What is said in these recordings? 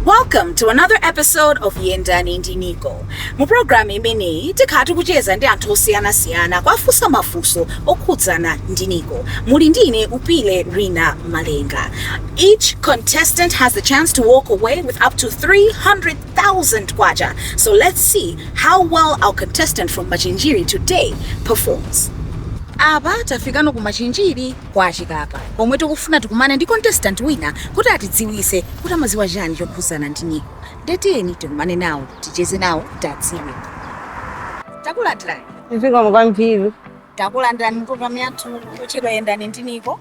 Welcome to another episode of Yendani ndi Niko. Mu programu imeneyi tikhala tikucheza ndi anthu osiyanasiyana kuwafunsa mafunso okhudzana ndi Niko. Muli ndi ine Upile Rina Malenga. Each contestant has the chance to walk away with up to 300 K000 so let's see how well our contestant from Machinjiri today performs. Apa tafikano ku Machinjiri kwa Chikapa pomwe tikufuna tikumane ndi contestant wina kuti atidziwise kuti amaziwa chani chokhuzana ndi Niko. Ndetiyeni tikumane nawo ticheze nawo tadziwe. Takulandirani. Tafika kwambiri. Takulandirani mu programu yathu yotchedwa yendani ndi Niko.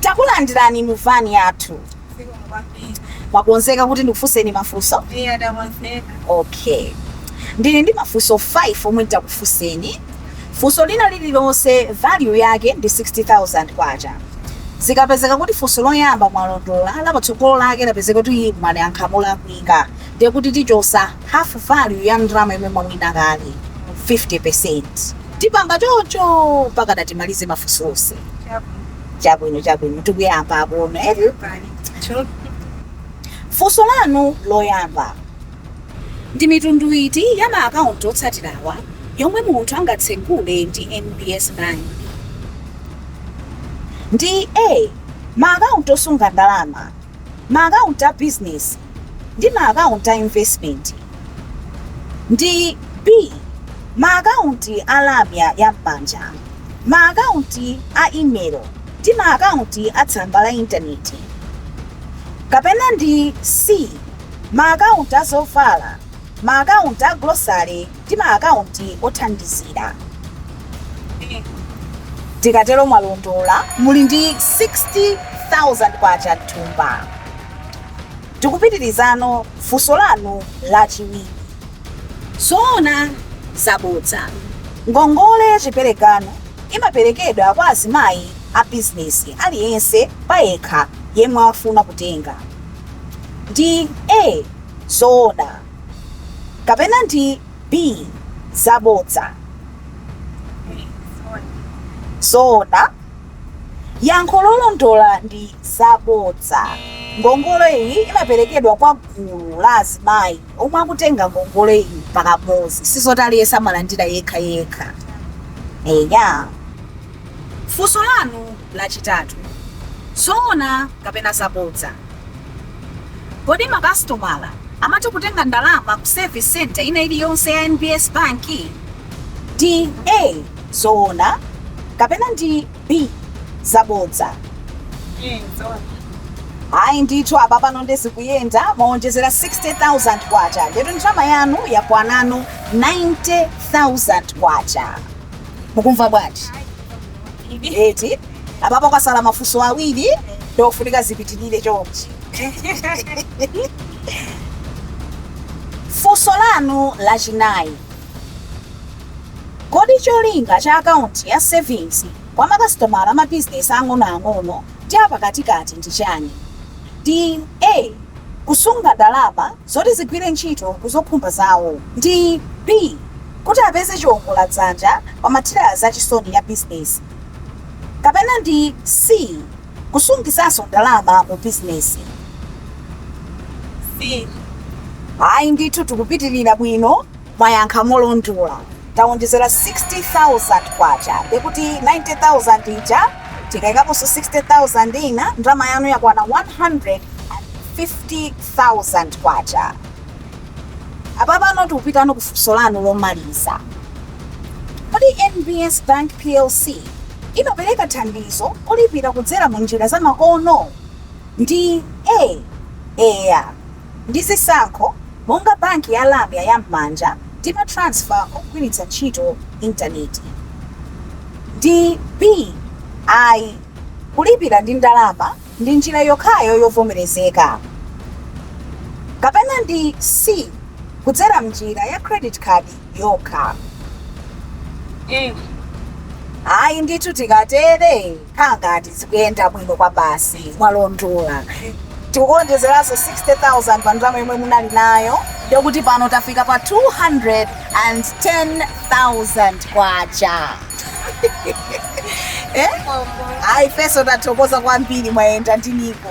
takulandirani mu vani yathu mwakonzeka kuti ndikufunseni mafunso okay ndili ndi mafunso 5 omwe nditakufunseni funso lina lililonse value yake ndi 60000 kwacha zikapezeka kuti funso loyamba mwalondola lapatsogolo lake lapezeka kuti mwaliyankha molakwika nde kuti tichosa half value ya ndalama yomwe mwawina kale 50 Tipanga chocho mpakana timalize mafunso onse. Chabwino, chabwino. Tikuyamba apono eti. Funso lanu loyamba. Ndi mitundu iti ya ma akaunti otsatirawa yomwe munthu angatsegule ndi NBS Bank? Ndi A. Ma akaunti osunga ndalama, ma akaunti a bizinesi ndi ma akaunti a invesitimenti ndi B. Ma akaunti a lamya ya m'manja, ma akaunti a imelo ndi ma akaunti a tsamba la intaneti kapena ndi C. Ma akaunti a zovala, ma akaunti a gulosale ndi ma akaunti othandizira. Tikatero mwalondola, muli ndi K60,000 m'thumba. Tikupitirizano funso lanu lachiwiri. Zoona Zabodza. Ngongole ya chiperekano imaperekedwa kwa azimayi a bizinesi aliyense payekha yemwe afuna kutenga. Ndi A zoona kapena ndi B zabodza? Zoona. Yankho lolondola ndi zabodza. Ngongole iyi imaperekedwa kwa gulu la azimayi omwe akutenga ngongole iyi pamodzi. Sizoti aliyense amalandira yekha yekha. Eya. Funso lanu lachitatu, zoona kapena zabodza. Kodi makasitomala amatha kutenga ndalama ku service centre ina iliyonse ya NBS Bank? Ndi A. Zoona kapena ndi B. Zabodza? A. Zoona. Ayi ndithu apa pano nde zikuyenda mwaonjezera K60,000 ndetu ndalama yanu yakwanano K90,000 mukumva bwanji eti apapo kwasala mafunso awiri ndofunika zipitirire chonchi funso lanu lachinayi Kodi cholinga cha akaunti ya savings kwa makasitomala a mabizinesi aang'onoang'ono ndi apakatikati ndi chani? Ndi A, Kusunga ndalama zoti zigwire ntchito ku zokhumba zawo ndi B, Kuti apeze chiongola dzanja pa ma transaction ya bizinesi kapena ndi C, Kusungitsanso ndalama mu bizinesi. C, Ayi ndithu tikupitirira bwino. Mwayankha molondola. Taonjezera K60,000 ndekuti K90,000 ija tikaikaponso K60,000 ina ndalama yanu yakwana K150,000. Apapano tikupitano ku funso lanu lomaliza. Kodi NBS Bank Plc imapereka thandizo lolipira kudzera mu njira zamakono? Ndi A. Eya. Ndi zisankho monga banki ya lamya ya m'manja ndi matransfer ogwiritsa ntchito intaneti, ndi B. Ayi, kulipira ndi ndalama ndi njira yokhayo yovomerezeka, kapena ndi C. Kudzera m'njira ya credit card yokha. Ayi ndithu tikatere. Zikangati zikuyenda bwino kwabasi mwalondola. Tikuonjezeranso 60,000 pa ndalama yomwe munali nayo ndekuti pano tafika pa 210,000 kwacha. Eh? Ayi ifenso tathokoza kwambiri mwayenda ndi NICO.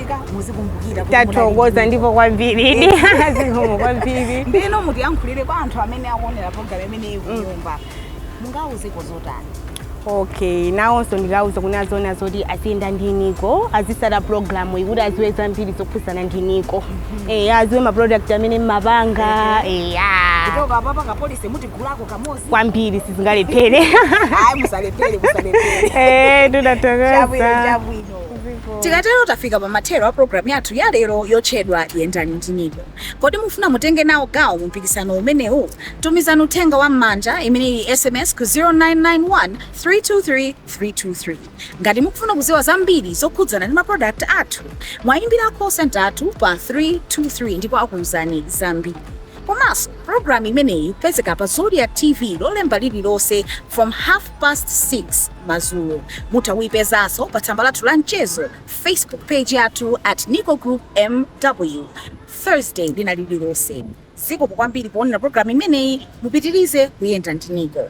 mukafika muzikumbukira kuti tathokoza munali ndipo kumeneko. kwambiri Eh. zikomo kwambiri ndiye mutiyankhulire kwa anthu amene akuonera programu imeneyi kunyumba mungawuzeko zotani okay nawonso ndingawuze kunena zoona zoti aziyenda ndi Nico azitsata programuyi kuti aziwe zambiri zokhudzana ndi Nico eh aziwe maproduct amene mmapanga eya kuchoka apapa kapolisi mutigulako kamodzi kwambiri sizingalephere ayi musalephere musalephere eh tathokoza chabwino chabwino Tikatero tafika pa mathero a program yathu ya lero yotchedwa Yendani ndi Nico. Kodi mufuna mutenge nawo gawo mu mpikisano umenewu? Tumizani uthenga wa m'manja, imene ili sms, ku 0 9 9 1 323 323. Ngati mukufuna kuziwa zambiri zokhudzana ndi ma product athu, muwayimbira a call centre athu pa 323 ndipo akuwuzani zambiri. Komanso program imeneyi ikupezeka pa Zodiak TV lolemba lililonse from 6:30. Madzulo. Mutha kuipezanso pa tsamba lathu la mchezo Facebook page yathu at Nico Group MW. Thursday lina lililonse. Zikomo kwambiri poonera program imeneyi. Mupitirize kuyenda ndi Nico.